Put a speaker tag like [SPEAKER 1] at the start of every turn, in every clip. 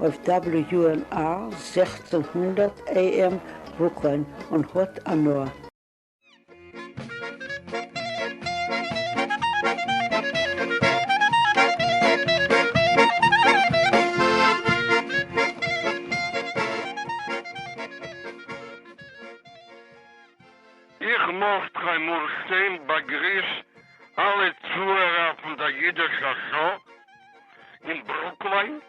[SPEAKER 1] אויף WNR זעכצן הונדערט AM וואוקאן און האט הנאה. איך
[SPEAKER 2] מאכט קיינמאל שטיין באגריס אלע צוהערער פון דער אידישער שאו אין ברוקלין.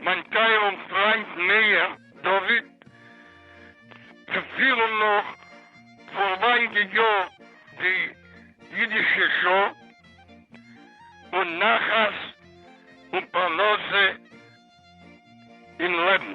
[SPEAKER 2] מיין טייערן פריינט מאיר דוד, צו פירן נאך פארביי די יאר די אידישע שעה און נחת און פרנסה אין לעבן.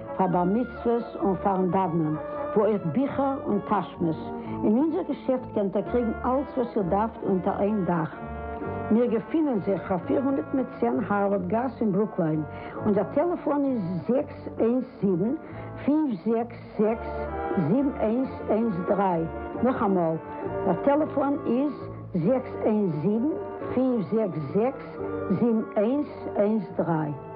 [SPEAKER 1] פאר בר מצוות און פארן דאוונען, וואו אויך ביכער און טאשמעס, אין אונזער געשעפט קענט איר קריגן אלץ וואס איר דארפט אונטער איין דאך. מיר געפינען זיך פאר פֿיר הונדערט מיט צען הארווארד גאס אין ברוקליין, אונזער טעלעפאן איז זעקס איינס זיבן, פֿינף זעקס זעקס, זיבן איינס איינס דרײַ, נאכאמאל, דער טעלעפאן איז זעקס איינס זיבן, פֿינף זעקס זעקס, זיבן איינס איינס דרײַ.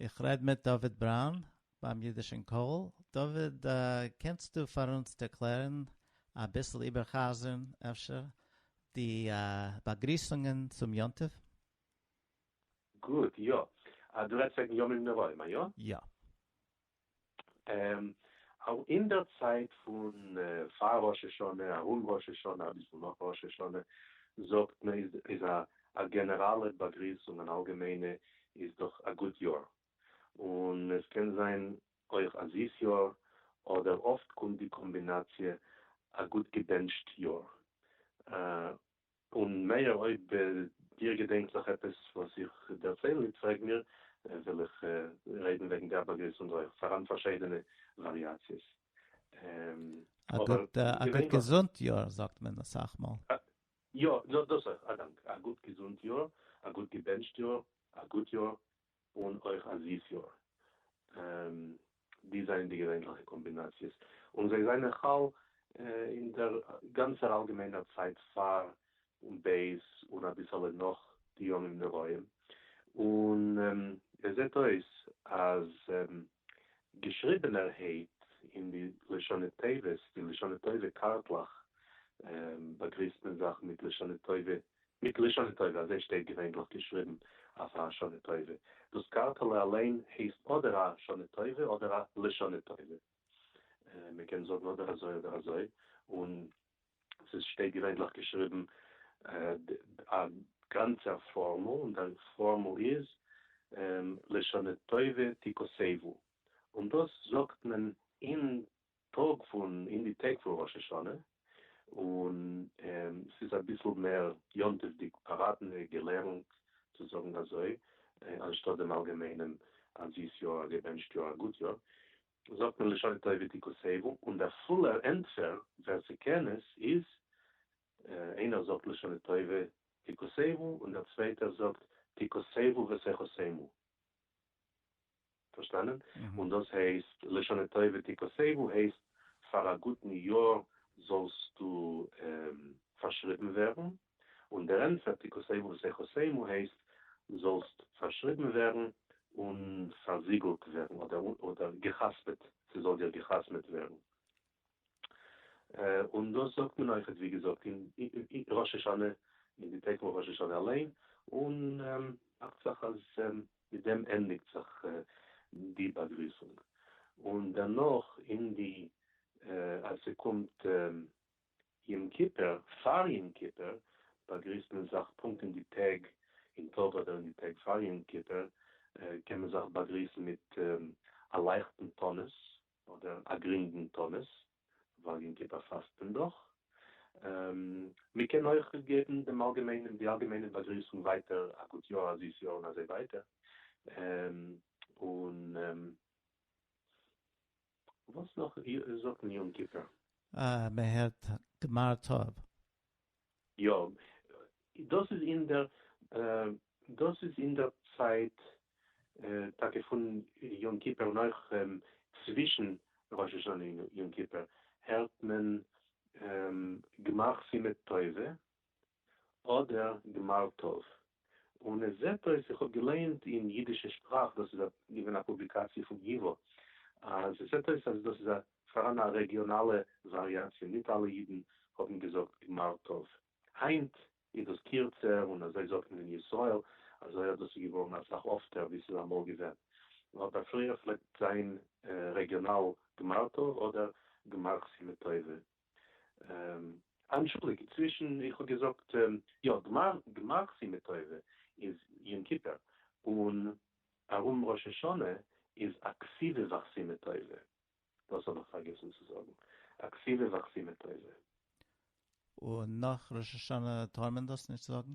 [SPEAKER 3] איך רעד מיט דוד בראון ביים אידישען קול, דוד קענסטו פאר אונז ערקלערן אביסל איבערחזרן אפשר די באגריסונגען צום יום טוב?
[SPEAKER 4] גוט, יא. דו רעדסט וועגן ימים נוראים,
[SPEAKER 3] איא? יא.
[SPEAKER 4] אין דער צייט פון פאר ראש השנה, ארום ראש השנה, אביסל נאך ראש השנה, זאגט מען איז א גענעראלע באגריסונג, אן אלגעמיינע איז דאך א גוט יאר, און עס קען זיין אויך א זיס יאר, אדער אפט קומט די קאמבינאציע א גוט געבענטשט יאר, און מאיר אויב דיר געדענקט זיך עפעס וואס איך דערצייל ניט פרעג מיר, וועל איך רעדן וועגן דער באגריסונג אויך, פאראן פארשיידענע וואריאציעס.
[SPEAKER 3] א גוט געזונט יאר זאגט מען אסאך מאל. יא,
[SPEAKER 4] דאס אויך, א דאנק. א גוט געזונט יאר, א גוט געבענטשט יאר, א גוט יאר, און אויך א זיס יאר. די זענען די געווענליכע קאמבינאציעס, און זיי זענען חל אין דער גאנצער אלגעמיינער צייט פאר און בעת און אביסעלע נאך די ימים נוראים, און עס זעט אויס אז געשריבענער העיט אין די לשונות טובות, די לשונות טובה קארטלעך באגריסט מען זיך מיט לשונות טובה, מיט לשונות טובה, אזוי שטייט געווענדליך געשריבן אויף א שנה טובה. דאס קארטעלע אליין הייסט אדער א שנה טובה אדער א לשונות טובה, מען קען זאגן אדער אזוי אדער אזוי, און ס'איז שטייט געווענדליך געשריבן א גאנצער פארמעל און די פארמעל איז לשנה טובה תקוצבו און דאס זאגט מען אין טאג פון אין די טעג פון ראש השנה און ס'איז אביסל מער יום טוב'דיג פאראטענע געלערנט צו זאגן אזוי אנשטאט דעם אלגעמיינעם א זיס יאר א געבענטשט יאר א גוט יאר זאגט מען לשון טובה תקוסבו, און דער פולער ענטפער, ווער ס'קען עס, איז, איינער זאגט לשנה טובה תקוסבו און דער צווייטער זאגט תקוסבו ותחוסמו. פארשטאנען? און דאס הייסט, לשנה טובה תקוסבו הייסט פאר א גוטן יאר זאלסטו פארשריבן ווערן, און דער ענטפער תכסהו ותכסה עמו הייסט זאלסט פארשריבן ווערן און פארזיגלט ווערן אדער גע'חתמ'עט, ס'זאל דיר גע'חתמ'עט ווערן. און דאס זאגט מען אויכעט ווי געזאגט אין ראש השנה, אין די טעג פון ראש השנה אליין, און דאכט זיך אז מיט דעם ענדיגט זיך די באגריסונג. און דערנאך אין די אז ס'קומט יום כיפור, פאר יום כיפור באגריסט מען זיך פונקט אין די טעג אין טוב אדער אין די טעג פאר יום כיפור קען מען זיך באגריסן מיט א לייכטן תענית אדער א גרינגן תענית ווייל יום כיפור פאסט מען דאך. מען קען אויך געבן דעם אלגעמיינעם די אלגעמיינע באגריסונג ווייטער א גוט יאר א זיס יאר און אזוי ווייטער און וואס נאך זאגט מען יום כיפור? אה, מען הערט
[SPEAKER 3] גמר טוב.
[SPEAKER 4] יא, דאס איז אין דער דאס איז אין דער צייט טאקע פון יום כיפור און אויך צווישן ראש השנה און יום כיפור הערט מען גמר סימן טובה, אדער גמר טוב. און עס זעט אויס, איך האב געלייענט אין אידישע שפראך, דאס איז געווען א פובליקאציע פון ייווא, אז עס זעט אויס אז דאס איז פאראן א רעגיאנאלע וואריאציע, ניט אלע אידן האבן געזאגט גמר טוב. היינט איז דאס קירצער און אזוי זאגט מען אין ישראל, אזוי אז דאס איז געווארן אסאך אפטער ווי עס איז אמאל געווען. אבער פריער פלעגט זיין רעגיאנאל גמר טוב אדער גמר חסימה טובה. אנטשולדיגט, צווישן, איך האב געזאגט, יא, גמר סימן תועבה איז יום כיפור, און ארום ראש השנה איז אקסיבה ואקסימה תועבה, דאס האב איך פארגעסן צו זאגן, אקסיבה ואקסימה תועבה. און
[SPEAKER 3] נאך ראש השנה טאר מען דאס נישט זאגן?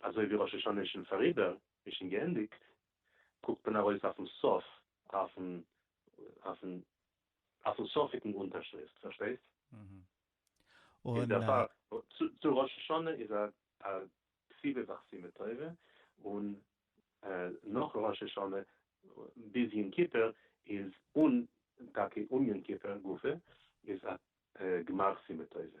[SPEAKER 4] אזוי ווי ראש השנה איז שוין פאריבער, איז שוין געענדיגט, קוקט מען ארויס אויפן סוף, אויפן סופיגן אונטערשריפט, פארשטייסט?
[SPEAKER 3] און דערפאר,
[SPEAKER 4] צו ראש השנה איז א סיבה וחסימה טובה, און נאך ראש השנה ביז יום כיפור איז, און טאקע אום יום כיפור גופא, איז א גמר סיבה טובה.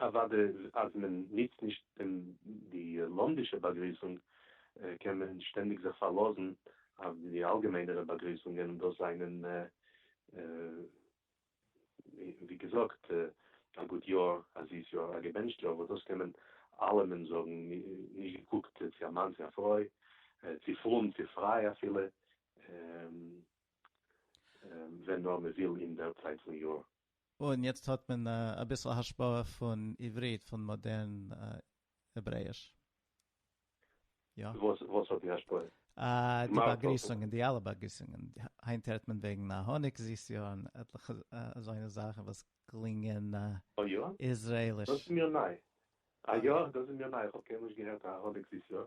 [SPEAKER 4] אוודאי אז מען נוצט נישט די לומדישע באגריסונג קען מען שטענדיג זיך פארלאזן אויף די אלגעמיינערע באגריסונגען און דאס זענען ווי געזאגט א גוט יאר, א זיס יאר, א געבענטשט יאר, וואס דאס קען מען אלעמען זאגן נישט געקוקט צו א מאן צו א פרוי, צו פרום צו פריי אפילו, ווען נאר מען וויל אין דער צייט פון יאר. און יעצט האט
[SPEAKER 3] מען אביסל השפעה פון עברית, פון מאדערן העברעיש. יא. וואס
[SPEAKER 4] האט די השפעה? די
[SPEAKER 3] באגריסונגען, די אלע באגריסונגען. היינט הערט מען וועגן א האניג זיס יאר און עטליכע אזוינע זאכן וואס קלינגען איזרעליש. דאס איז מיר ניי. א יא, דאס איז מיר ניי. איך האב קיינמאל
[SPEAKER 4] נישט געהערט
[SPEAKER 3] א
[SPEAKER 4] האניג זיס יאר.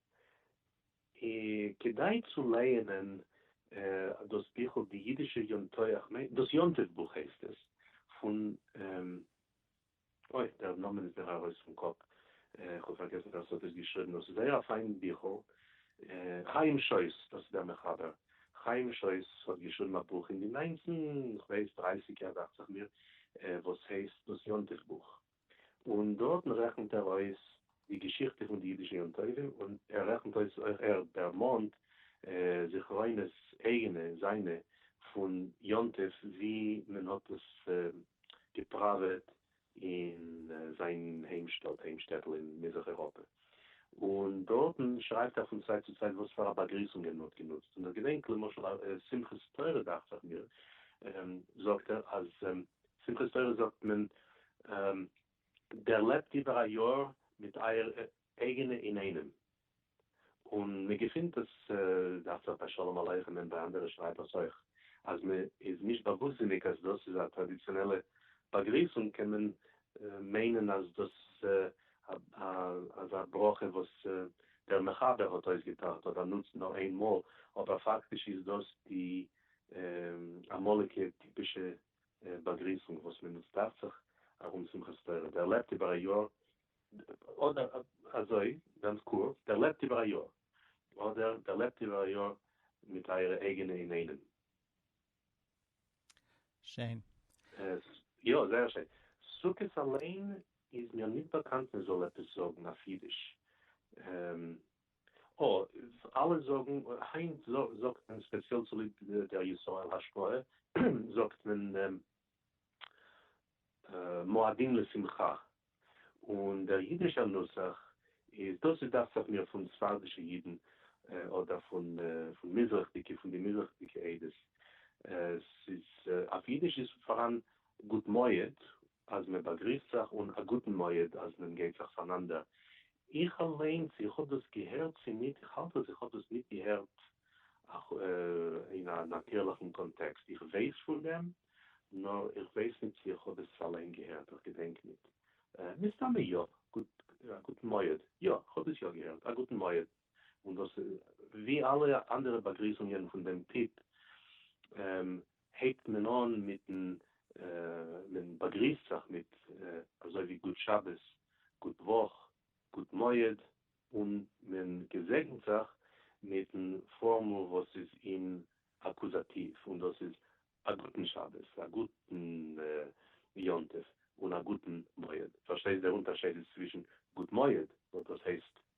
[SPEAKER 4] כדאי צו לייענען דאס ביכל די אידישע יום טוח, ניין דאס יום טוב בוך הייסט עס, פון אוי דער נאמען איז מיר ארויס פון קאפ, איך האב פארגעסן ווער ס'האט עס געשריבן, דאס איז זייער א פיין ביכל, חיים שויס דאס איז דער מחבר, חיים שויס האט געשריבן א בוך אין די ניינצן כ'ווייס דרייסיגער דאכצעך מיר, וואס הייסט דאס יום טוב בוך. און דארטן רעכנט ער אויס די געשיכטע פון די אידישע יום טובים, און ער רעכנט אויס אויך ער דערמאנט זכרונות אייגענע זיינע פון יום טוב ווי מען האט עס געפראוועט אין זיין היים שטאט, היים שטעטל אין מזרח אירופה, און דארטן שרייבט ער פון צייט צו צייט וואס פאר א באגריסונגען מען האט גענוצט, און איך געדענק למשל שמחת תורה דאכט זיך מיר זאגט ער אז שמחת תורה זאגט מען דערלעבט איבער א יאר מיט אייער אייגענע אינאיינעם, און מען געפינט עס דאכט זיך ביי שלום עליכם און ביי אנדערע שרייבערס אויך, אז מען איז נישט באוואוסטזיניג אז דאס איז א טראדיציאנעלע באגריסונג קען מען מיינען אז דאס אז א ברכה וואס דער מחבר האט אויסגעטראכט אדער נוצט נאר איין מאל, אבער פאקטיש איז דאס די אמאליגע טיפישע באגריסונג וואס מען נוצט דאכט זיך ארום שמחת תורה, דער לעבט איבער א יאר, אדער אזוי גאנץ קורץ, דער לעבט איבער א יאר, אדער דער לעבט איבער א יאר מיט אייערע אייגענע אינאיינעם.
[SPEAKER 3] שיין.
[SPEAKER 4] יא, זייער שיין. סוכות אליין איז מיר ניט באקאנט מען זאל עפעס זאגן אויף אידיש. אויף אלע זאגן, היינט זאגט מען ספעציעל צוליב דער ישראל השפעה זאגט מען מועדים לשמחה, און דער אידישער נוסח איז דאס איז דאכט זיך מיר פון ספרדישע אידן אדער פון מזרח'דיגע פון די מזרח'דיגע עדות, ס'איז אויף אידיש איז פאראן גוט מועד אז מען באגריסט זיך אן א גוטן מועד אז מען גייט זיך פארנאנדער, איך אליינס איך האב דאס געהערט צו ניט איך האלט אז איך האב דאס ניט געהערט אין א נאטירליכן קאנטעקסט איך ווייס פון דעם נאר איך ווייס ניט צו איך האב עס אליין געהערט איך געדענק ניט מסתמא יא גוט א גוטן מועד יא איך האב דאס יא געהערט א גוטן מועד. און דאס ווי אלע אנדערע באגריסונגען פון דעם טיפ הייבט מען אן מיטן מען באגריסט זיך מיט אזוי ווי גוט שבת, גוט וואך, גוט מועד, און מען געזעגנט זיך מיטן פארמעל וואס איז אין אקוזאטיוו און דאס איז א גוטן שבת, א גוטן יום טוב, און א גוטן מועד. פארשטייסט דער אונטערשייד איז צווישן גוט מועד וואס דאס הייסט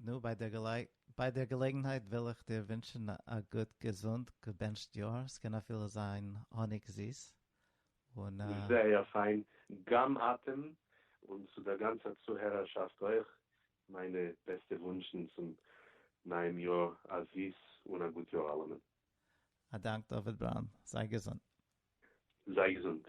[SPEAKER 3] נו, ביי דער געלעגנהייט וויל איך דיר ווינטשן א גוט געזונט געבענטשט יאר, ס'קען אפילו זיין האניג זיס, און א.
[SPEAKER 4] זייער פיין, גם אתם, און צו דער גאנצער צוהערערשאפט אויך, מיינע בעסטע וואונטשן צום נייעם יאר, א זיס און א גוט יאר אלעמען. א דאנק
[SPEAKER 3] דוד בראון, זיי געזונט. זיי
[SPEAKER 4] געזונט.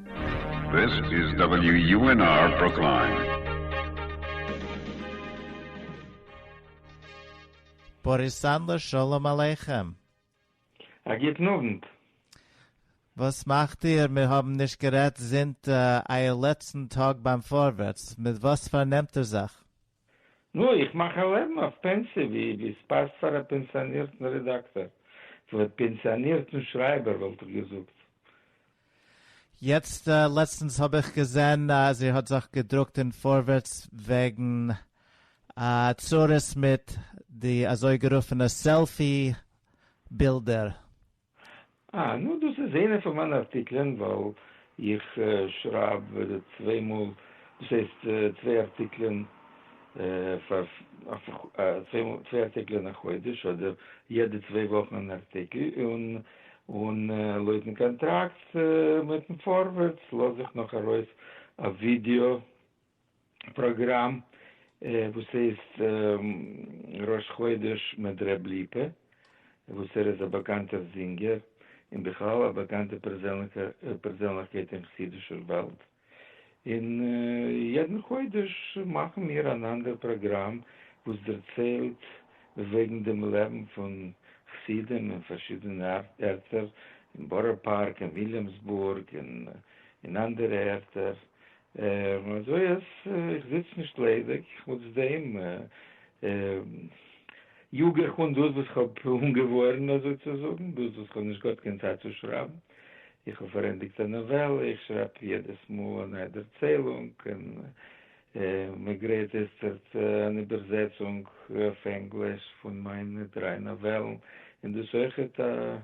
[SPEAKER 5] This is WUNR Brooklyn.
[SPEAKER 3] באריס סאנדלער שלום עליכם. א
[SPEAKER 6] גוטן אוונט. וואס
[SPEAKER 3] מאכט איר? מיר האבן נישט גערעדט זינט אייער לעצטן טאג ביים פארווערטס. מיט וואס פארנעמט איר זיך? נו, איך
[SPEAKER 6] מאך א לעבן אויף פענסי ווי ווי ס'פאסט פאר א פענסיאנירטן רעדאקטאר, כמעט פענסיאנירטן שרייבער וואלט איך געזאגט. יעצט
[SPEAKER 3] לעצטנס האב איך געזען אז איר האט זיך געדרוקט אין פארווערטס וועגן א צרות מיט די אזויגערופענע סעלפי בילדער. אה,
[SPEAKER 6] נו דאס איז איינע פון מיינע ארטיקלען, ווייל איך שרייב צוויי מאל, דאס הייסט צוויי ארטיקלען פאר צוויי ארטיקלען א חודש, אדער יעדע צוויי וואכן אן ארטיקל, און און לויטן קאנטראקט מיטן פארווערטס לאז איך נאך ארויס א ווידיאו פראגראם וואס הייסט ראש חודש מיט ר' ליפא וואס ער איז א באקאנטער זינגער און בכלל א באקאנטע פערזענליכקייט אין חסידישער וועלט, און יעדן חודש מאכן מיר אן אנדער פראגראם וואס דערציילט וועגן דעם לעבן פון חסידים אין פארשידענע ערטער, אין בארא פארק, אין וויליאמסבורג, און אין אנדערע ערטער, און אזוי אז איך זיץ נישט ליידיג, חוץ דעם יאג איך אן דאס וואס איך האב אנגעווארענט אזוי צו זאגן, דאס וואס איך האב נישט געהאט קיין צייט צו שרייבן, איך האב פארענדיגט א נאוועלע, איך שרייב יעדעס מאל א נייע דערציילונג, און מען גרייט איצטערט אן איבערזעצונג אויף ענגליש פון מיינע דריי נאוועלן, און דאס אויכעט א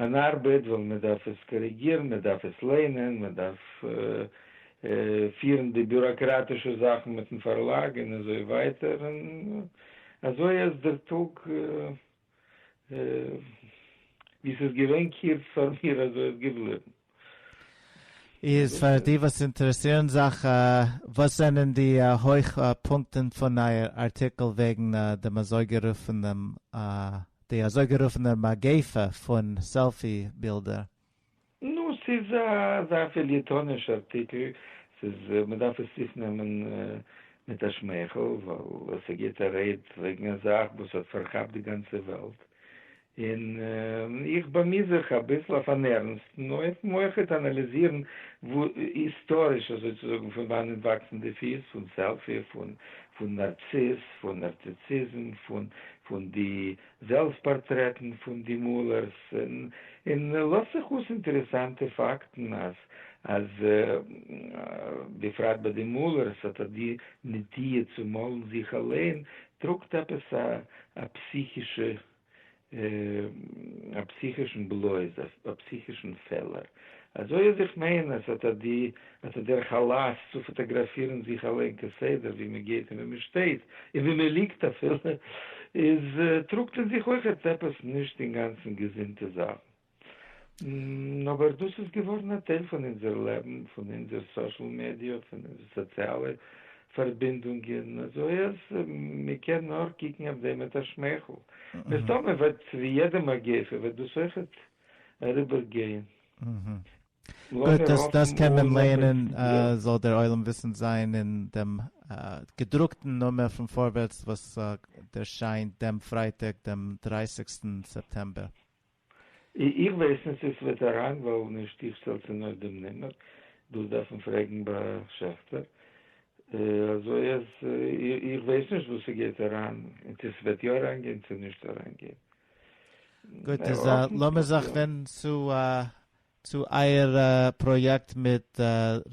[SPEAKER 6] אן ארבעט ווייל מען דארף עס קאריגירן, מען דארף עס ליינען, מען דארף פירן די ביוראקראטישע זאכן מיטן פארלאג און אזוי ווייטער, און אזוי אז דער טאג ווי ס'איז געווען קורץ פאר מיר אזוי איז געבליבן.
[SPEAKER 3] איז פאר די וואס אינטערעסירן זיך, וואס זענען די הויך פונקטן פון אייער ארטיקל וועגן דעם אזויגערופענע די אזויגערופענע מגיפה פון סעלפי בילדער?
[SPEAKER 6] נו, ס'איז אזא פעליעטאניש ארטיקל, ס'איז מ'דארף עס אויפנעמען מיט א שמייכל, ווייל ס'געבט א רעד וועגן א זאך וואס האט פארכאפט די גאנצע וועלט, און איך באמי זיך אביסל אויף אן ערנסטן אופן אויך צו אנאליזירן היסטאריש אזוי צו זאגן פון וואנען וואקסן די פיס פון סעלפי, פון נארציס, פון נארציסיזם, פון די זעלבסט פארטרעטן פון די מאלערס, און לאזט זיך אויס אינטערעסאנטע פאקטן אז בפרט ביי די מאלערס האט אט די נטיה צו מאלן זיך אליין טראגט עפעס א פסיכישע א פסיכישן בלויז א פסיכישן פעלער אזוי אז איך מיין אז אט אט די אט אט דער חלות צו פאטאגראפירן זיך אליין כסדר ווי מען גייט און ווי מען שטייט און ווי מען ליגט אפילו איז טראגט אין זיך אויכעט עפעס נישט אינגאנצן געזונטע זאכן. נו, אבער דאס איז געווארן א טייל פון אונזער לעבן, פון אונזער סאשעל מידיע, פון אונזער סאציאלע פארבינדונגען, אזוי אז מען קען נאר קוקן אויף דעם מיט א שמייכל. מסתמא וועט ווי יעדע מגיפה וועט דאס אויכעט אריבער גיין.
[SPEAKER 3] גוט, דאס קען מען לערנען, זאל דער עולם וויסנד זיין אין דעם געדרוקטן נומער פון פארווערטס וואס ערשיינט דעם פרייטאג דעם דרייסיגסטן סעפטעמבער.
[SPEAKER 6] איך ווייס נישט צו ס'וועט אריין ווייל נישט איך שטעל צו נאר דעם נומער, דאס דארף מען פרעגן ביי שעכטער, אזוי אז איך ווייס נישט וואס ס'גייט אריין און צו ס'וועט יא אריינגיין צו נישט אריינגיין.
[SPEAKER 3] גוט איז לאמיר זיך ווענדן צו צו אייער פראיעקט מיט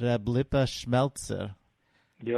[SPEAKER 3] ר' ליפא שמעלצער. יא.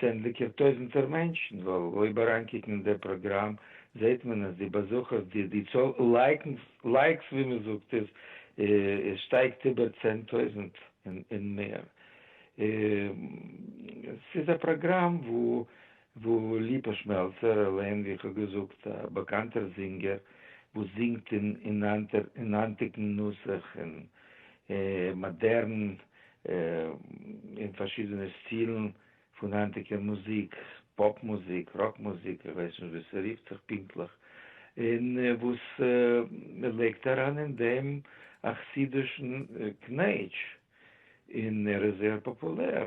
[SPEAKER 6] צענדליגער טויזנטער מענטשן, ווייל אויב אריינקוקן אין דער פראגראם זעט מען אז די באזוכערס, די די צאל לייקס ווי מען זאגט עס, עס שטייגט איבער צען טויזנט און מער. עס איז א פראגראם וואו ליפא שמעלצער אליין, ווי איך האב געזאגט, א באקאנטער זינגער וואס זינגט אין היינטיגן נוסח, אין מאדערן אין פארשידענע סטילן פון היינטיגע מוזיק, פאפ מוזיק, ראק מוזיק, איך ווייס נישט ווי ס'רופט זיך פונקטליך, און וואס מ'לייגט אריין אין דעם א חסיד'ישן קנעטש, און ער איז זייער פאפולער,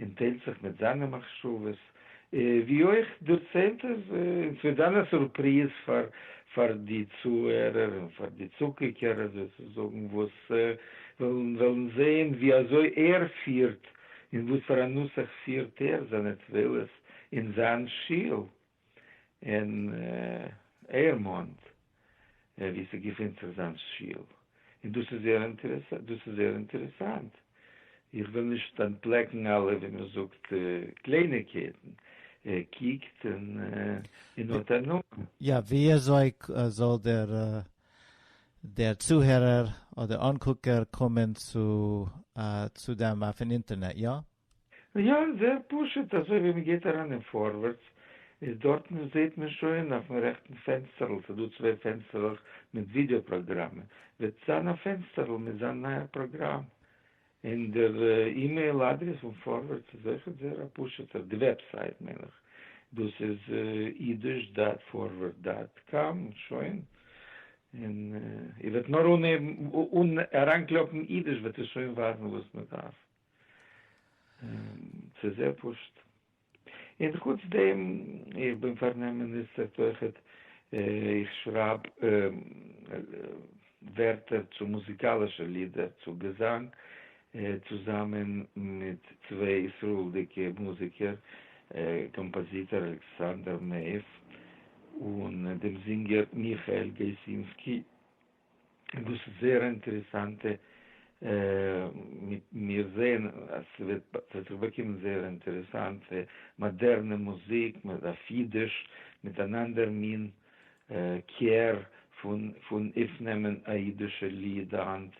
[SPEAKER 6] און טיילט זיך מיט זיינע מחשבות, ווי אויך דערציילט ער און ס'וועט זיין א סורפריז פאר פאר די צוהערער און פאר די צוקוקער אזוי צו זאגן וואס וועלן וועלן זעהן ווי אזוי ער פירט און וואס פאר א נוסח פירט ער זיינע תפלות אין זיין שול. אין עירמאנט ווי ס'געפינט זיך זיין שול, און דאס איז זייער אינטערעסאנט, דאס איז זייער אינטערעסאנט, איך וויל נישט אנטפלעקן אלע ווי מען זאגט קלייניגקייטן, קוקט און האט הנאה. יא, וויאזוי
[SPEAKER 3] זאל דער דער צוהערער אדער אנקוקער קומען צו צו
[SPEAKER 6] דעם אויפן
[SPEAKER 3] אינטערנעט,
[SPEAKER 6] יא? יא,
[SPEAKER 3] זייער
[SPEAKER 6] פשוט, אזוי ווי
[SPEAKER 3] מען גייט
[SPEAKER 6] אריין אין פארווערטס איז דארטן זעהט מען שוין אויפן רעכטן פענסטערל ס'איז דא צוויי פענסטערלעך מיט ווידעא פראגראמען וועט זיין א פענסטערל מיט זיין נייער פראגראם און דער אימעיל אדרעס פון פארווערטס איז אויכעט זייער א פשוטער די וועבסייט מיין איך דאס איז אידיש דאט פארווערד דאט קאם שוין און איר וועט נאר אן אריינקלאפן אידיש וועט עס שוין ווייזן וואס מען דארף. ס'איז זייער פשוט. און חוץ דעם, איך בין פארן עם מיניסטער תוכת, איך שרייב ווערטער צו מוזיקאלישע לידער, צו געזאנג, צוזאמען מיט צוויי ישראל'דיגע מוזיקער, קאמפאזיטער אלכסנדר מעיף און דעם זינגער מיכאל געסינסקי. דאס איז זייער אינטערעסאנט, מיר זעען אז ס'וועט זיך באקומען זייער אינטערעסאנט, מאדערנע מוזיק, אויף אידיש, מיט אן אנדער מין קער פון אויפנעמען א אידישע ליד היינט,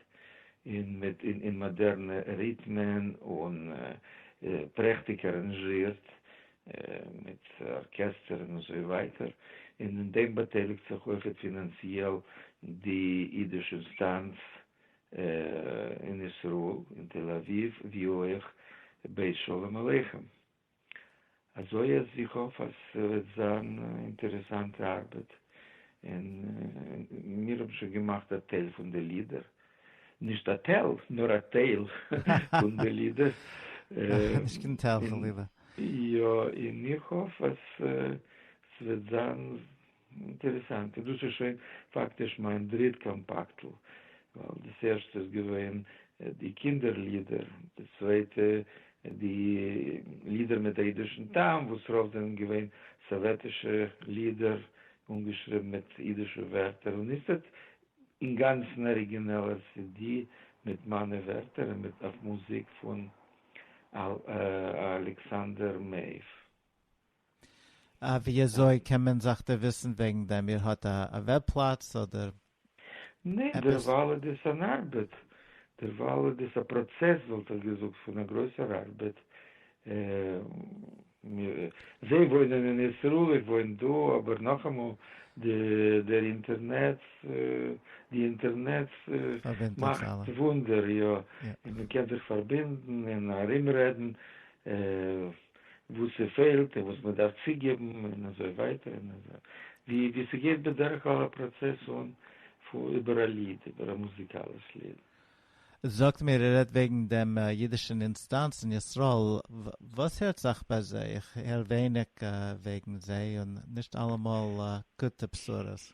[SPEAKER 6] און מיט מאדערנע ריטמען און פרעכטיג אראנזשירט. מיט ארקעסטער און אזוי ווייטער, און אין דעם באטייליגט זיך אויכעט פינאנציעל די אידיש אינסטאנץ אין ישראל, אין תל אביב, ווי אויך בית שלום עליכם. אזוי אז איך האף אז ס'וועט זיין אינטערעסאנטע ארבעט, און מיר האבן שוין געמאכט א טייל פון די לידער, נישט א טייל, נאר א טייל פון די לידער. נישט
[SPEAKER 3] קיין טייל פון לידער. יא,
[SPEAKER 6] און איך האף אז ס'וועט זיין אינטערעסאנט. און דאס איז שוין פאקטיש מיין דריט קאמפאקטל, ווייל דאס ערשטע איז געווען די קינדער לידער, די צווייטע די לידער מיט אידישן טעם, וואס רוב זענען געווען סאוועטישע לידער אנגעשריבן מיט אידישע ווערטער, און איצטערט אינגאנצן אריגינעלער סידי מיט מיינע ווערטער און מיט אויף מוזיק פון אלכסנדר מעיף. אה,
[SPEAKER 3] ווי אזוי קען מען זיך דערוויסן וועגן דעם? איר האט א וועב פלאץ אדער ניין, עפעס?
[SPEAKER 6] דערווייל איז דאס אן ארבעט, דערווייל איז דאס א פראצעס וואלט איך געזאגט פון א גרויסער ארבעט. מיר זיי וואוינען אין ישראל איך וואוין דא אבער נאכאמאל די דער אינטערנעץ די אינטערנעץ מאכט וואונדער יא און מען קען זיך פארבינדן און ארום רעדן וואס ס'פעלט און וואס מען דארף צוגעבן און אזוי ווייטער און אזוי ווי ווי ס'גייט בדרך כלל א פראצעס אן איבער א ליד איבער א מוזיקאליש ליד זאגט
[SPEAKER 3] מיר ער רעדט וועגן דעם אידישן אינסטאנץ אין ישראל, וואס הערט זיך ביי זיי? איך הער ווייניג וועגן זיי און נישט אלעמאל גוטע בשורות.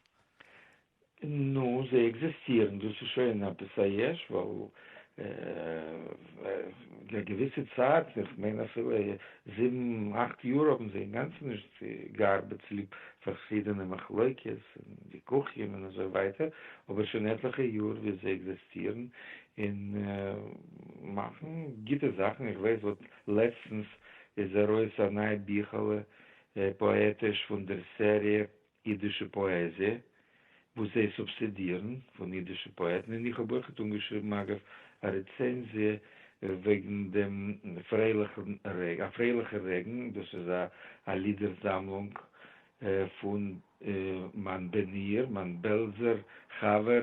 [SPEAKER 6] נו, זיי עקזיסטירן, דאס איז שוין עפעס א יש, ווייל א געוויסע צייט, איך מיין אפילו זיבן אכט יאר האבן זיי אינגאנצן נישט ס'גארבעט צוליב פארשידענע מחלוקת און וויכוחים און אזוי ווייטער, אבער שוין עטליכע יאר ווי זיי עקזעסטירן און מאכן גוטע זאכן, איך ווייס וואס לעצטנס איז ארויס א נייע ביכעלע פאעטיש פון דער סעריע אידישע פאעזיע, וואס זיי סובסידירן פון אידישע פאעטן, און איך האב אויכעט אנגעשריבן אגב א רעצענזיע וועגן דעם פרייליכן רעגן, א פרייליכער רעגן, דאס איז א לידער זאמלונג פון מיין בן עיר, מיין בעלזער חבר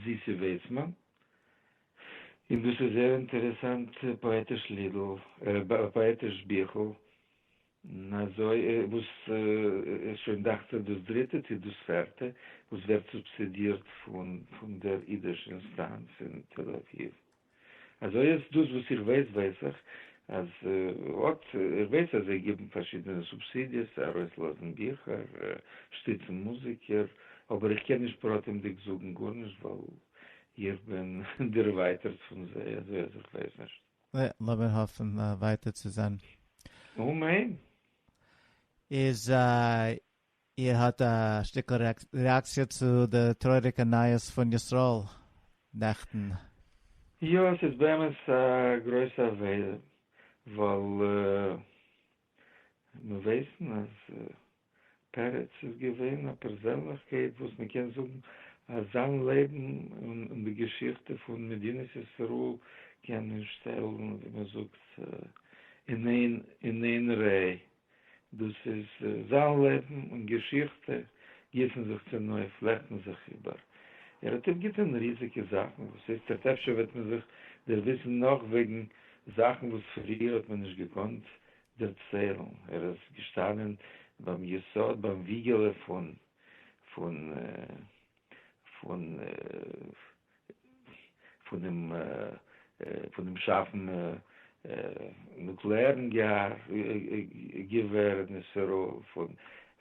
[SPEAKER 6] זיסי וועצמאן, און דאס איז זייער אינטערעסאנט פאעטיש לידל, פאעטיש ביכל, און אזוי וואס איז שוין דאכט זיך דאס דריטע צו דאס פערטע וואס ווערט סובסידירט פון דער אידיש אינסטאנץ אין תל אביב. אזוי איז דאס וואס איך ווייס ווייס איך אז אט איך ווייס אז זיי גיבן פארשידענע סובסידיעס ארויסלאזן ביכער שטיצן מוזיקער אבער איך קען נישט פרטים'דיג זאגן גארנישט ווייל איך בין דערווייטערט פון זיי אזוי אז איך ווייס נישט. יא, לאמיר
[SPEAKER 3] האפן ווייטער צו זען. אמן.
[SPEAKER 6] איז
[SPEAKER 3] איר האט א שטיקל רעאקציע צו די טרויעריגע נייעס פון ישראל נעכטן? יא,
[SPEAKER 6] עס איז באמת א גרויסע עבירה, ווייל מיר ווייסן אז פרץ איז געווען א פערזענליכקייט וואס מען קען זאגן אז זיין לעבן און די געשיכטע פון מדינת ישראל קען מען שטעלן ווי מען זאגט אין איין אין איין ריי, דאס איז זיין לעבן און געשיכטע גיסן זיך צונויף, פלעכטן זיך איבער, ער האט אפגעטון ריזיגע זאכן, וואס הייסט ער'ט אפשר וועט מען זיך דערוויסן נאך וועגן זאכן וואס פריער האט מען נישט געקאנט דערציילן, ער איז געשטאנען ביים יסוד ביים וויגעלע פון פון פון פונעם פונעם שאפן נוקלעארן געווער אין איזראעל,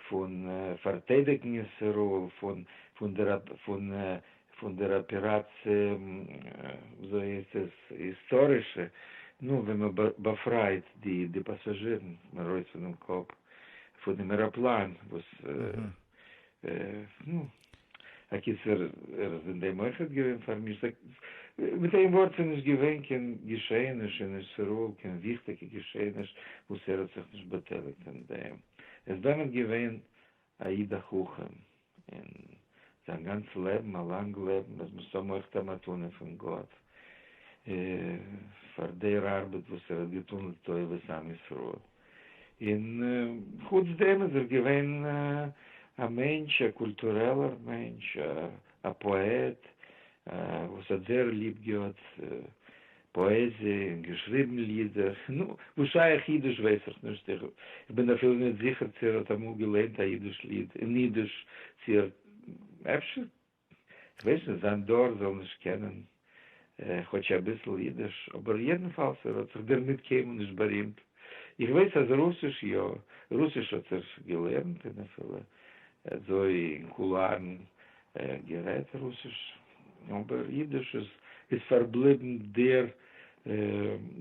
[SPEAKER 6] פון פארטיידיגן איזראעל פון פון דער פון פון דער אפעראציע, וויאזוי איז עס היסטאריש, נו, ווען מען באפרייט די פאסאזשירן ארויס פונעם קאפ פונעם עראפלאן, וואס, נו, אקיצער, ער איז אין דעם אויכעט געווען פארמישט, מיט איין ווארט, ס'איז נישט געווען קיין געשעעניש אין ישראל, קיין וויכטיגע געשעעניש וואס ער האט זיך נישט באטייליגט אין דעם, עס איז באמת געווען א איד א חכם און זיין גאנץ לעבן א לאנג לעבן אז מ'זאל האבן אויך א מתנה פון גאט פאר דער ארבעט וואס ער האט געטון לטובת עם ישראל און חוץ דעם איז ער געווען א מענטש א קולטורעלער מענטש א פאעט וואס האט זייער ליב געהאט פאעזיע און געשריבן לידער. נו, וואס שייך אידיש ווייס איך נישט, איך בין אפילו נישט זיכער צו ער האט אמאל געלערנט א אידיש ליד אין אידיש, צו ער, אפשר, כ'ווייס נישט, זיין דור זאל נישט קענען כאטש אביסל אידיש, אבער יעדנפאלס ער האט זיך דערמיט קיינמאל נישט בארימט. איך ווייס אז רוסיש יא, רוסיש האט ער געלערנט און אפילו אזוי אין קולארן ער האט גערעדט רוסיש, אבער אידיש איז איז פארבליבן דער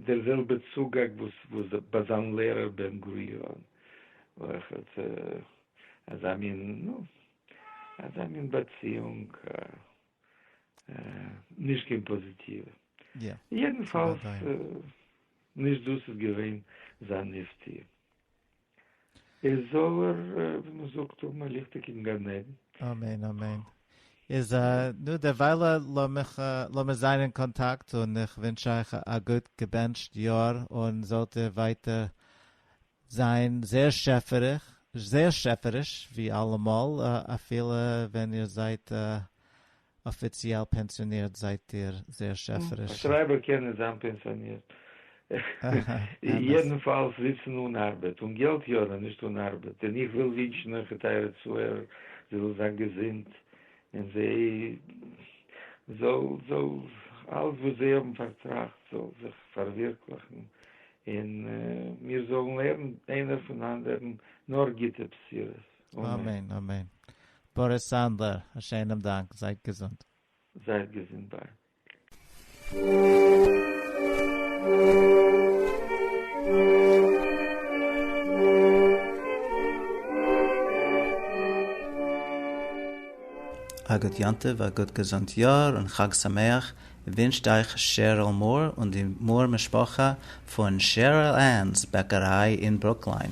[SPEAKER 6] דער זעלבע צוגאג וואס וואס ביי זיין לערער בן גוריון, וכד', אזא מין, נו, אזא מין באציאונג, נישט קיין פאזיטיווע. יעדנפאלס, נישט דאס איז געווען זיין מופתי'.
[SPEAKER 3] איז זאל ער ווי מען זאגט האבן א ליכטיגן גן עדן. אמן אמן. איז נו דערוויילע לאמיר זיין אין קאנטאקט און איך ווינטש אייך א גוט געבענטשט יאר און זאלט איר ווייטער זיין זעהר שעפעריש ווי אלעמאל אפילו ווען איר זייט אפיציעל פענסיאנירט זייט איר זייער שעפעריש. א שרייבער קען נישט זיין
[SPEAKER 6] פענסיאנירט. יעדנפאלס זיצן אן ארבעט און געלט יארן נישט אן ארבעט און איך וויל ווינטשן אויך א טייערע צוהערער זי זאל זיין געזונט און זי זאל זאל אלס וואס זי האבן פארטראכט זאל זיך פארווירקליכן און מיר זאלן הערן איינער פון אנדערן נאר גוטע בשורות.
[SPEAKER 3] אמן
[SPEAKER 6] אמן. באריס סאנדלער, א שענעם
[SPEAKER 3] דאנק. זייט געזונט. זייט געזונט ביי. א גוט יום טוב, א גוט געזונט יאר און חג שמח ווינטשט אייך שעריל מאר און די מאר משפחה פון שעריל ענס בעקעריי אין ברוקליין.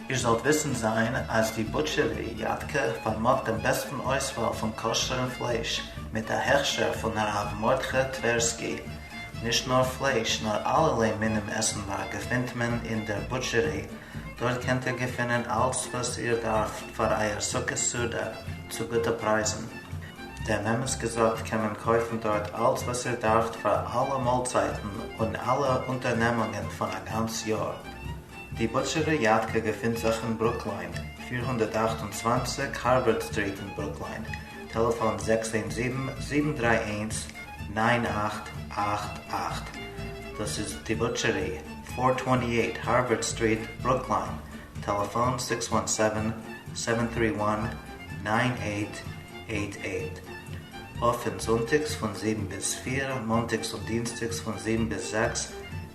[SPEAKER 3] איר זאלט וויסן זיין אז די בוטשערי יד ק פארמאגט דעם בעסטן אויסוואל פון כשר'ן פלייש מיט א הכשר פון הרב מרדכי טווערסקי. נישט נאר פלייש נאר אלערליי מינים עסנווארג געפינט מען אין דער בוטשערי, דארט קענט איר געפינען אלץ וואס איר דארפט פאר אייער סוכות סעודה צו גוטע פרייזן. דעם אמת געזאגט קען מען קויפן דארט אלץ וואס איר דארפט פאר אלע מאלצייטן און אלע אונטערנעמונגען פון א גאנץ יאר. די בוטשערע יאטקע געפינט זיך אין ברוקליין, פֿיר הונדערט אַכט און צוואַנציק הארווארד סטריט אין ברוקליין, טעלעפאן זעקס איין זיבן, זיבן דרײַ איינס, נײַן אַכט אַכט אַכט. דאס איז די בוטשערי, פֿיר הונדערט צוואַנציק הארווארד סטריט, ברוקליין, טעלעפאן זעקס איין זיבן, זיבן דרײַ איינס, נײַן אַכט אַכט אַכט. אפען זונטאגס פון זיבן ביז פֿיר, מאנטאגס און דינסטאגס פון זיבן ביז זעקס,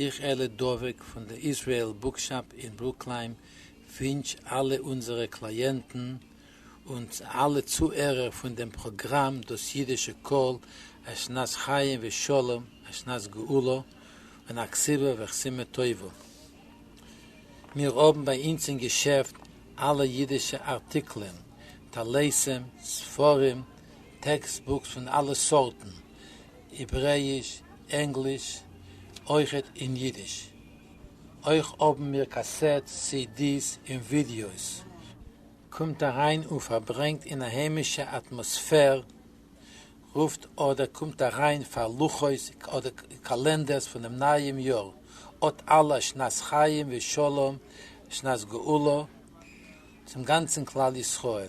[SPEAKER 7] איך אלי דובק פון די איזרעיל בוקשאפ אין ברוקליים ווינטש אלע אונזערע קלייענטן און אלע צוהערער פון דעם פראגראם דאס אידישע קול א שנת חיים ושלום א שנת גאולה און א כסבה וחסימה טובה. מיר האבן ביי אינז אין געשעפט אלע אידישע ארטיקלען, טלסים, ספרים, טעקסט בוקס פון אלע סארטן, העברעיש, ענגליש, אויכעט אין אידיש. אויך האבן מיר קאסעט סידיס און ווידיאוס. קומט אריין און פארברענגט אין א היימישע אטמאספער, רופט אדער קומט אריין פאר לוחות אדער קאלענדערס פונעם נייעם יאר, אט אלע שנת חיים ושלום שנת גאולה צום גאנצן כלל ישראל.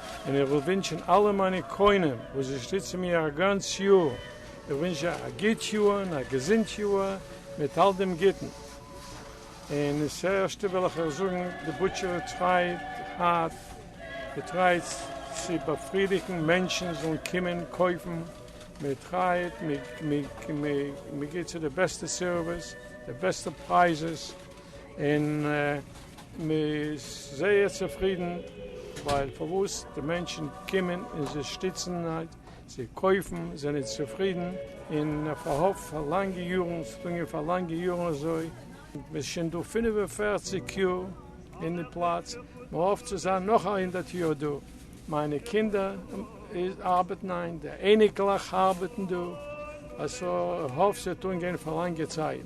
[SPEAKER 8] און איך וויל ווינטשן אלע מיינע קונים וואס שטיצן מיר א גאנץ יאר, איך ווינטש זיי א גוט יאר און א געזונט יאר מיט אלט דעם גוטן. און עס ערשטע וויל איך אייך זאגן, די בוטשערי טרייט הארט, מען טרייט צו באפרידיגן מענטשן זאלן קומען קויפן, מען טרייט, מען געבט צו די בעסטע סערוויס, די בעסטע פרייזעס, און מען איז זייער צופרידן ווייל פארוואס די מענטשן קומען און זיי שטיצן זיי קויפן זענען צופרידן און פארהאפט פאר לאנגע יארן ס'האט אנגעהויבן פאר לאנגע יארן אזוי מען איז שוין דא פֿינף און פֿערציק יאר אין די פלאץ מען האפט צו זיין נאך א הונדערט יאר דא מיינע קינדער ארבעטן איין די אייניקלעך ארבעטן דא אז ס'האט אנגעהויבן פאר לאנגע צייט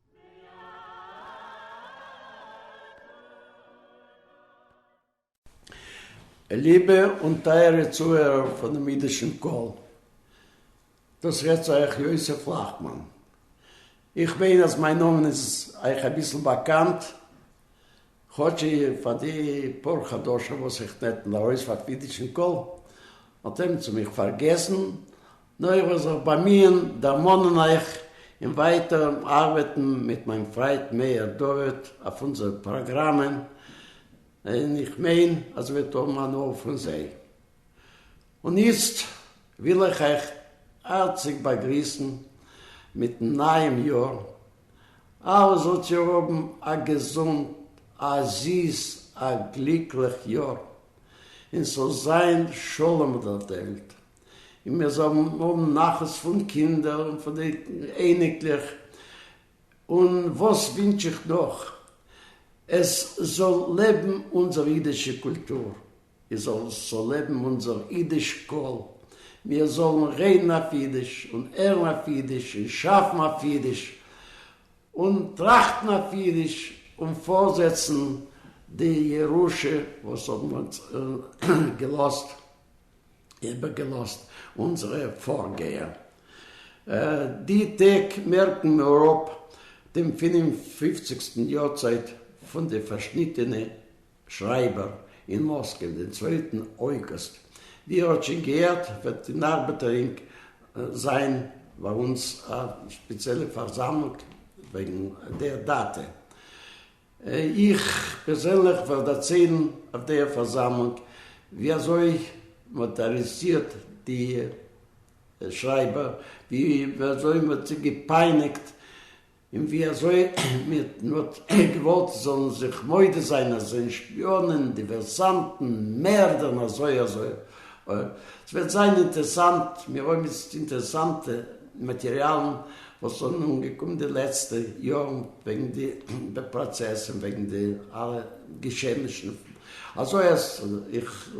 [SPEAKER 9] ליבע און טייערע צוהערער פונעם אידישן קול, דאס רעדט צו אייך יוסף לאכטמאן. איך מיין אז מיין נאמען איז אייך אביסל באקאנט. כאטש פאר די פאר חדשים וואס איך נעתן ארויס פאר קווידישן קול, האט ער צו מיך פארגעסן, נו איך וועל זיך באמיען דערמאנען אייך און ווייטער ארבעטן מיט מיין פריינט מאיר דוד אויף אונזערע פראגראמען, און איך מיין אז ער וועט האבן הנאה פון זיי. און איצט וויל איך אייך הארציג באגריסן מיטן נייעם יאר, אלע זאלט איר האבן א געזונט, א זיס, א גליקליך יאר, און ס'זאל זיין שלום אויף דער וועלט, און מיר זאלן האבן נחת פון קינדער און פון די אייניקלעך, און וואס ווינטש איך נאך, עס זאל לעבן אונזער אידישע קולטור, איז זאל זאל לעבן אונזער אידיש קול, מיר זאלן רעדן אויף אידיש, און הערן אויף אידיש, און שאפן אויף אידיש, און טראכטן אויף אידיש, און פארזעצן די ירושה וואס האבן אונז געלאזט, איבער געלאזט אונזערע פארגייער. די טעג מערקן מיר אפ דעם פינף און פופציגסטן יארצייט פון די פארשניטענע. שרייבער אין מאסקע דעם צווייטן אויגוסט, ווי ער האט שוין געהערט וועט אין ארבעטערינג זיין ביי אונז א שפעציעלע פארזאמלונג וועגן דער דאטע. איך פערזענליך וועל דערציילן אויף דער פארזאמלונג ווי אזוי מען האט ארעסטירט די שרייבער, ווי אזוי מען האט זיי געפייניגט און ווי אזוי מען האט געוואלט זאלן זיך מודה זיין אז זענען שפיאנען, דיווערסאנטן, מערדער און אזוי אזוי אויך. עס וועט זיין אינטערסאנט, מיר האבן איצט אינטערסאנטע מאטעריאלן וואס זענען אנגעקומען די לעצטע יארן וועגן די פראצעס און וועגן די אלע געשעענישן, אזוי אז איך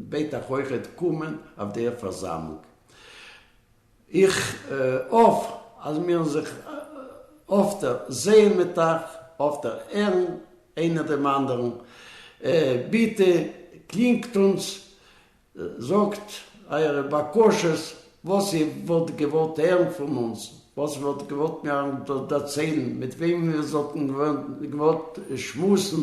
[SPEAKER 9] בעט אייך אויכעט קומען אויף דער פארזאמלונג. איך האף אז מיר זיך אפטער זעהן מיט אייך, אפטער הערן איינער דעם אנדערן, ביטע קלינגט אונז, זאגט אייערע בקשות, וואס איר וואלט געוואלט הערן פון אונז, וואס איר וואלט געוואלט מיר דערציילן, מיט וועם איר זאלט געוואלט שמועסן,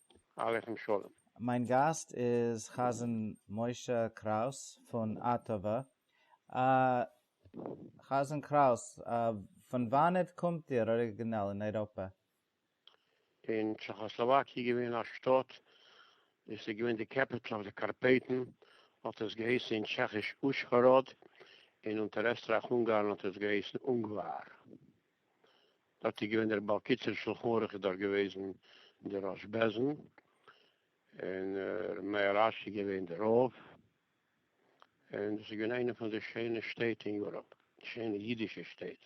[SPEAKER 10] עליכם
[SPEAKER 11] שלום. מיין גאסט
[SPEAKER 10] איז חזן משה קראוס פון אטאווע. חזן קראוס, פון וואנעט קומט איר אריגינעל אין אייראפע? אין
[SPEAKER 11] טשעכאסלאוואקיע געווען א שטאט, דאס איז געווען די קעפיטל אויף די קארפעטן, האט עס געהייסן אין טשעכיש אושהאראד, און אונטער עסטרייך-אונגארן האט עס געהייסן אונגוואר. דארט איז געווען דער בעל קיצור שלחן ערוך איז דאך געוועזן דער ראש בעזן און ר' מאיר אש איז געווען דער רב און דאס איז געווען איינע פון די שיינע שטעט אין יוראפ שיינע אידישע שטעט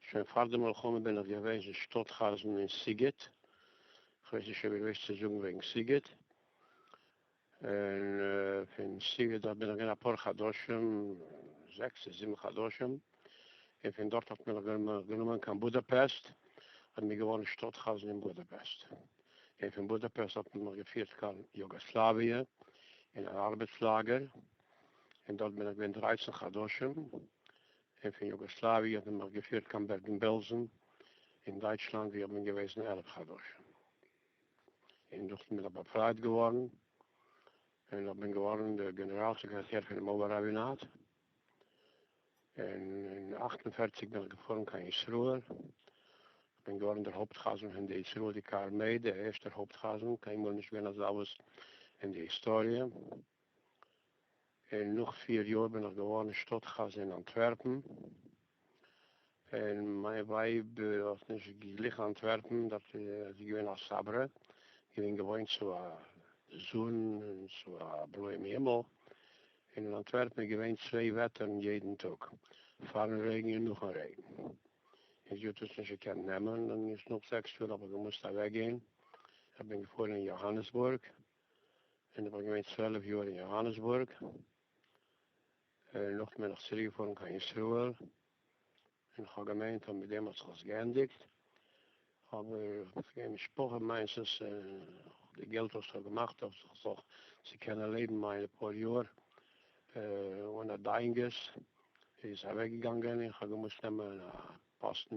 [SPEAKER 11] שוין פאר די מלחמה בין איך געוועזן שטאט חזן אין סיגעט כ'ווייס נישט אויב איך ווייס צו זאגן וועגן סיגעט און פון שטיבער דארט בין איך געווען אפאר חדשים, זעקס צו זיבן חדשים, און פון דארט האט מען מיך גענומען קיין בודאפעסט, און בין געווארן שטאט חזן אין בודאפעסט, און פון בודאפעסט האט מען מיך געפירט קיין יוגאסלאוויע אין אן ארבעטס לאגער, און דארט בין איך געווען דרייצן חדשים, און פון יוגאסלאוויע האט מען מיך געפירט קיין בערגן-בעלזן אין דייטשלאנד וואו איך בין געוועזן עלף חדשים. און דאס איז מיר באפרייט געווארן, און איך בין געווארן דער גענעראל סעקרעטאר פון דעם אבער ראבינאט, און אין אַכט און פֿערציק בין איך געפארן קיין ישראל, איך בין געווארן דער הויפט חזן פון די ישראלדיקע ארמעי, דער ערשטער הויפט חזן, קיינמאל נישט געווען אזאוואס אין די היסטאריע. און נאך פיר יאר בין איך געווארן שטאט-חזן אין אנטווערפן, און מיין ווייב האט נישט געגליכן אנטווערפן, דארט איז זי געווען א סברא, געווען געוואוינט צו א זון און צו א בלויעם הימל, און אין אנטווערפן איז געווען צוויי וועטערן יעדן טאג, פארן רעגן און נאכן רעגן, און זי האט עס נישט געקענט נעמען, און נאך זעקס יאר האב איך געמוזט אוועקגיין, איך בין געפארן אין יאהאנעסבורג, און איך בין געווען צוועלף יאר אין יאהאנעסבורג, און נאכדעם בין איך צוריק געפארן קיין ישראל, און איך האב געמיינט אז מיט דעם האט זיך עס געענדיגט, אבער וועגן משפחה מיינסעס און די געלט וואס איך האב געמאכט אויף זיך זיך צו קענען לעבן מיינע פאר יאר אן א דיינגעס, איז אוועק געגאנגען, און איך האב געמוזט נעמען א פאסטן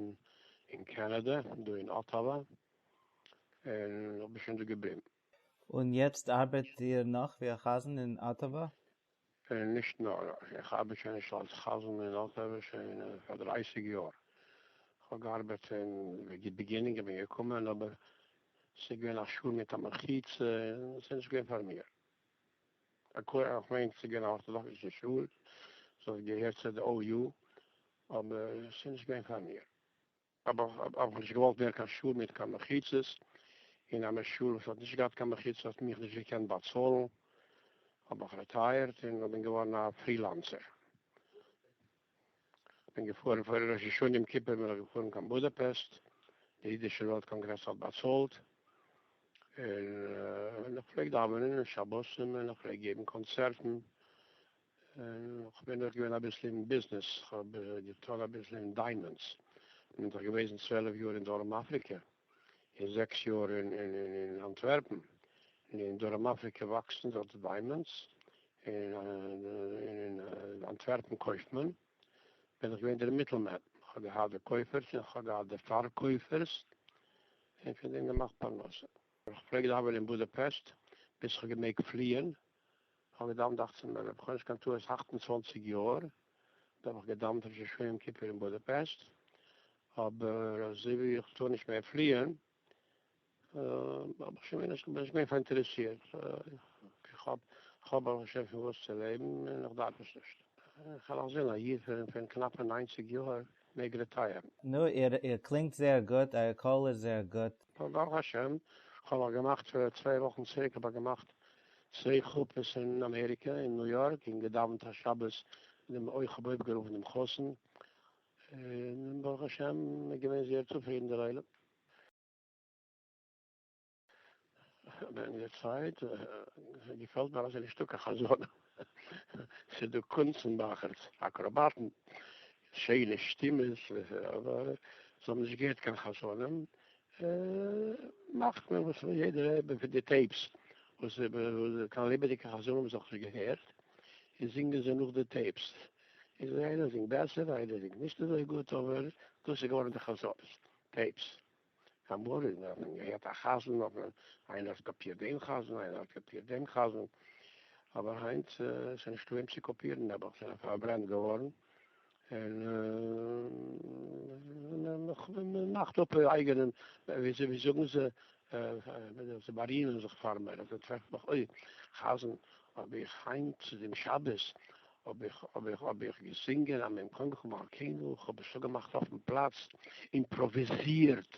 [SPEAKER 11] אין קענעדע, דא אין אטאווא, און איך בין שוין דא געבליבן. און יעצט
[SPEAKER 10] ארבעט איר נאך ווי א חזן אין אטאווא? נישט
[SPEAKER 11] נאר, איך ארבעט שוין נישט אלס חזן אין אטאווע שוין פאר דרייסיג יאר, כ'האב געארבעט אין די ביגינינג כ'בין געקומען אבער ס'איז געווען א שול מיט א מחיצה און ס'איז נישט געווען פאר מיר, כ'מיין ס'איז געווען א ארטאדאקסישע שול, ס'האט געהערט צו די OU, אבער ס'איז נישט געווען פאר מיר. האב איך אבער נישט געוואלט ווערן קיין שול מיט קיין מחיצות, און א משול וואס האט נישט געהאט קיין מחיצה האט מיך נישט געקענט באצאלן, האב איך רעטייערט און איך בין געווארן א פרילאנסער. בין געפארן פאר ראש השנה יום כיפור בין איך געפארן קיין בודאפעסט, די אידישע וועלט קאנגרעס האט באצאלט, און איך פלעג דאווענען און שבתים און איך פלעג געבן קאנצערטן, כ'בין אויך געווען אביסל אין ביזנעס, כ'האב געטון אביסל אין דיימאנדס, כ'בין דאך געוועזן צוועלף יאר אין דרום אפריקע, און זעקס יאר אין אנטווערפן, און אין דרום אפריקע וואקסן דארט דיימאנדס, און אין אנטווערפן קויפט מען, בין איך געווען דער מיטלמען, כ'האב געהאט די קויפערס און כ'האב געהאט די פארקויפערס, און פון דעם געמאכט פרנסה. כ'פלעג דאווענען אין בודאפעסט, ביז כ'האב געמעגט פליען, כ'האב געדאוונט אכצן מנין, האב איך אן נישט קיין טעות אַכט און צוואַנציק יאר, דאן האב איך געדאוונט ראש השנה יום כיפור אין בודאפעסט, אבער אזוי ווי איך טאר נישט מער פליען, האב איך שוין מער נישט, בין נישט מער פאראינטערעסירט, כ'האב כ'האב ברוך השם פון וואס צו לעבן און איך דארף עס נישט, כ'על נאך זען א יוד פון קנאפע ניינציג יאהר מעג רעטייערן. נו, איר איר
[SPEAKER 10] קלינגט זייער גוט, אייער קול איז זייער גוט. ברוך השם,
[SPEAKER 11] כ'האב נאך געמאכט צוויי וואכן צוריק האב איך געמאכט צוויי חופות אין אמעריקע אין ניו יארק און געדאווענט א שבת און דעם אויך כ'האב אויפגערופן דעם חתן און ברוך השם איז געווען זייער צופרידן דער עולם. ווען די צייט געפעלט מיר אז ס'איז נישטא קיין חזנים, ס'איז דא קונצן מאכערס, אקראבאטן, שיינע שטימעס, אבער זיי האבן נישט געהערט קיין חזנים, מאכט מען וואס וויל יעדער האבן פון די טעיפס וואס קיין ליבעדיגע חזנים האבן זיך נישט געהערט און זינגען זיי נאך די טעיפס איז איינער זינגט בעסער איינער זינגט נישט אזוי גוט אבער דאס איז געווארן די חזנות טעיפס אמאל האט מען געהערט א חזן האט מען איינער האט קאפירט דעם חזן איינער האט קאפירט דעם חזן אבער היינט ס'נישטא וועם צו קאפירן נעבעך זענען פארברענט געווארן. און מען מאכט אפ אייגענעם, ווי זאגן זיי, זיי בארימען זיך פאר מיר, און זיי טרעפן מיך, אוי, חזן, האב איך היינט צו דעם שבת, האב איך, האב איך, האב איך געזינגען א מ קומקום מלכינו, כ'האב עס אפגעמאכט אויפן פלאץ, אימפראוויזירט.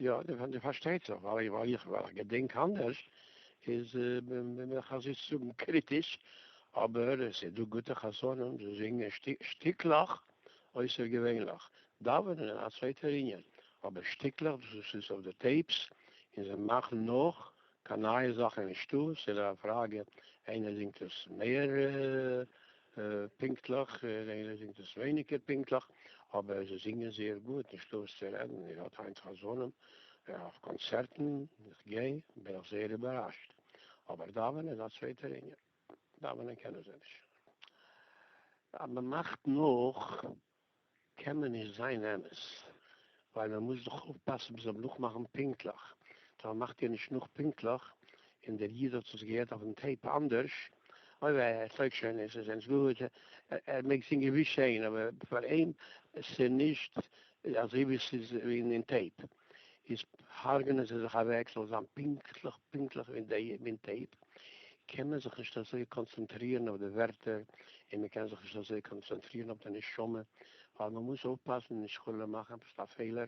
[SPEAKER 11] יא, די פארשטייט זיך, ווייל איך געדענק אנדערש, איז בין איך אזוי צו זאגן קריטיש, אבער עס איז דא גוטע חזנים וואס זינגען שטיקלעך אויסערגעווענליך, דאווענען איז א צווייטער עניין, אבער שטיקלעך וואס איז אויף די טעיפס און זיי מאכן נאך, קיין נייע זאכן נישטא, ס'איז א פראגע איינער זינגט עס מער פונקטליך און איינער זינגט עס ווייניגער פונקטליך, אבער זיי זינגען זייער גוט, נישטא וואס צו רעדן, איר האט היינט חזנים אויף קאנצערטן, איך גיי, בין איך זייער איבעראשט, אבער דאווענען איז א צווייטער ענין, דאווענען קענען זיי נישט, אז מ'מאכט נאך. קען מען נישט זיין אמת, ווייל מען מוז דאך אויפפאסן מען זאל נאכמאכן פונקטליך, טא מען מאכט יא נישט נאך פונקטליך, און דער איד האט עס געהערט אויפן טעיפ אנדערש, אוי וויי ער טויג שוין נישט, עס זענען געווען, ער מעג זינגען ווי שעהן, אבער פאר אים ס'נישט אזוי ווי ס'איז אין טעיפ. איז הרג'נען זיי זיך אוועק, זאל זיין פונקטליך פונקטליך ווי אין טעיפ, קען מען זיך נישט אזוי קאנצענטרירן אויף די ווערטער, און מען קען זיך נישט אזוי קאנצענטרירן אויף די נשמה, ווייל מען מוז אויפפאסן נישט חלילה מאכן עפעס א פעלער,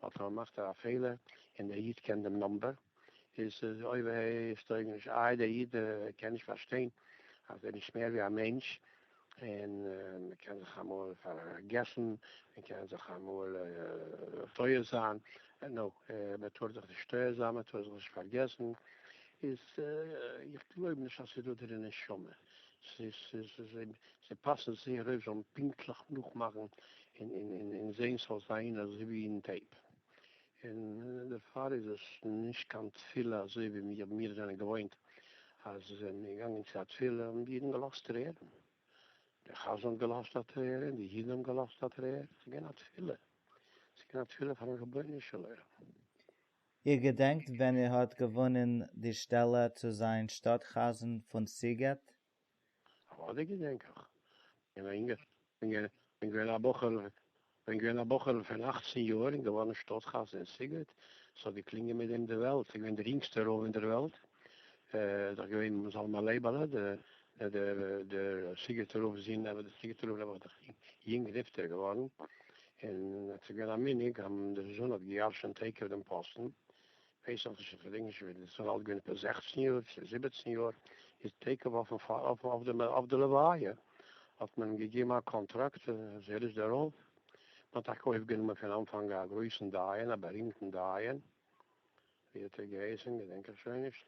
[SPEAKER 11] ווייל טאמער מאכט ער א פעלער און דער איד קען דעם נאמבער, איז עס אוי וויי שטויגעניש איי דער איד קען נישט פארשטיין אז ער איז נישט מער ווי א מענטש און מען קען זיך אמאל פארגעסן מען קען זיך אמאל טועה זיין נו מען טאר זיך נישט טועה זיין מען טאר זיך נישט פארגעסן איז איך גלויב נישט אז עס איז דא דער נשמה זיי פאסן זייער אויף זיי זאלן פונקטליך נאכמאכן און זעהן ס'זאל זיין אזוי ווי אין טעיפ. און דערפאר איז עס נישט קיין תפילה אזוי ווי מיר מיר זענען געוואוינט אז מען איז געגאנגען צו א תפילה און די אידן געלאזט טרערן, דער חזן האט געלאזט א טרער און די אידן האבן געלאזט א טרער, עס איז געווען א תפילה, עס איז געווען א תפילה פארן רבונו של עולם. איר
[SPEAKER 10] געדענקט ווען ער האט געוואונען די שטעלע צו זיין שטאט חזן פון סיגעט? אוודאי
[SPEAKER 11] געדענק איך, איך בין יונגער, בין געווען א בחור, בין געווען א בחור פון אכצן יאר און געווארן שטאט חתן אין סיגוט, ס'האט געקלינגען מיט דעם די וועלט, ס'איז געווען דער יונגסטער רב אין דער וועלט, דאך געווען זלמן לייבעלע, דער סיגוטער רב זון, אבער דער סיגוטער רב איז דאך יונג נפטר געווארן, און ס'איז געווען א מנהג אז דער זון האט געירשנט עקב דעם פאסטן, ווייס איך נישט, כ'געדענק נישט ווען, ס'זאל אלט געווען עפעס זעכצן יאר, צו זיבעצן יאר, איז תיכף אויף די לוויה האט מען אים געגעבן א קאנטראקט אז ער איז דער רב, מען האט טאקע אויפגענומען פון אנפאנג א גרויסן דיין, א בארימטן דיין, ווי האט ער געהייסן, געדענק איך שוין נישט.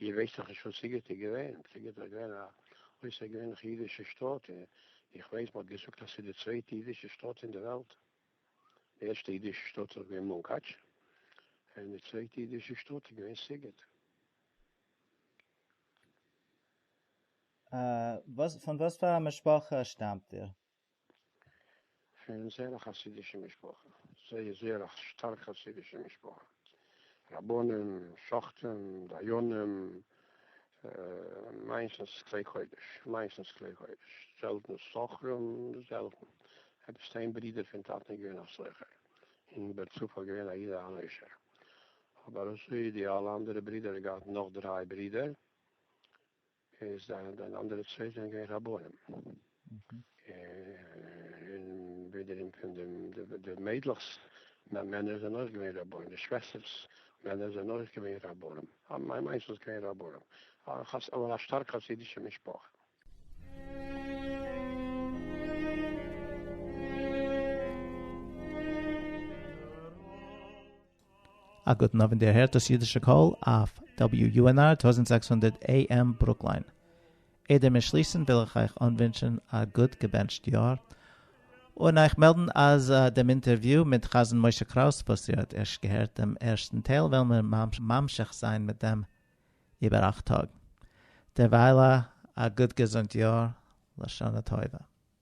[SPEAKER 11] איר ווייסט דאך נישט וואס סיגעט איז געווען, סיגעט איז געווען א אויסערגעווענליכע אידישע שטאט, איך ווייס מען האט געזאגט אז ס'איז די צווייטע אידישע שטאט אין די וועלט, די ערשטע אידישע שטאט איז געווען מונקאטש, און די צווייטע אידישע שטאט איז געווען סיגעט. פון
[SPEAKER 10] וואס פאר א משפחה שטאמט איר?
[SPEAKER 11] פון זייער א חסידישע משפחה, זייער זייער א שטארק חסידישע משפחה, רבנים, שוחטים, דיינים, מיינסטנס כלי קודש, מיינסטנס כלי קודש, זעלטן סוחרים, זעלטן, עפעס איין ברודער פון טאטן איז געווען א סוחר, און בער צפת איז געווען א איד אן עושר, אבער אזוי די אלע אנדערע ברודער, ער האט געהאט נאך דריי ברודער. איז דיין דיין אנדערע צוויי זענען געווען רבנים. און ווידעראום פון דעם די מיידלעך'ס מענער זענען אויך געווען רבנים, די שוועסטער'ס מענער זענען אויך געווען רבנים. מיין מאנס איז געווען רבנים. אבער א שטארק חסידישע משפחה.
[SPEAKER 3] א גוטן אוונט איר הערט דאס אידישע קול אויף WUNR טויזנט זעקס הונדערט AM ברוקליין. איידער מיר שליסן וויל איך אייך אנווינטשן א גוט געבענטשט יאר און אייך מעלדן אז דעם אינטערוויו מיט חזן משה קראוס וואס איר האט ערשט געהערט דעם ערשטן טייל וועלן מיר ממשיך זיין מיט דעם איבער אכט טאג. דערווייל א גוט געזונט יאר לשנה טובה.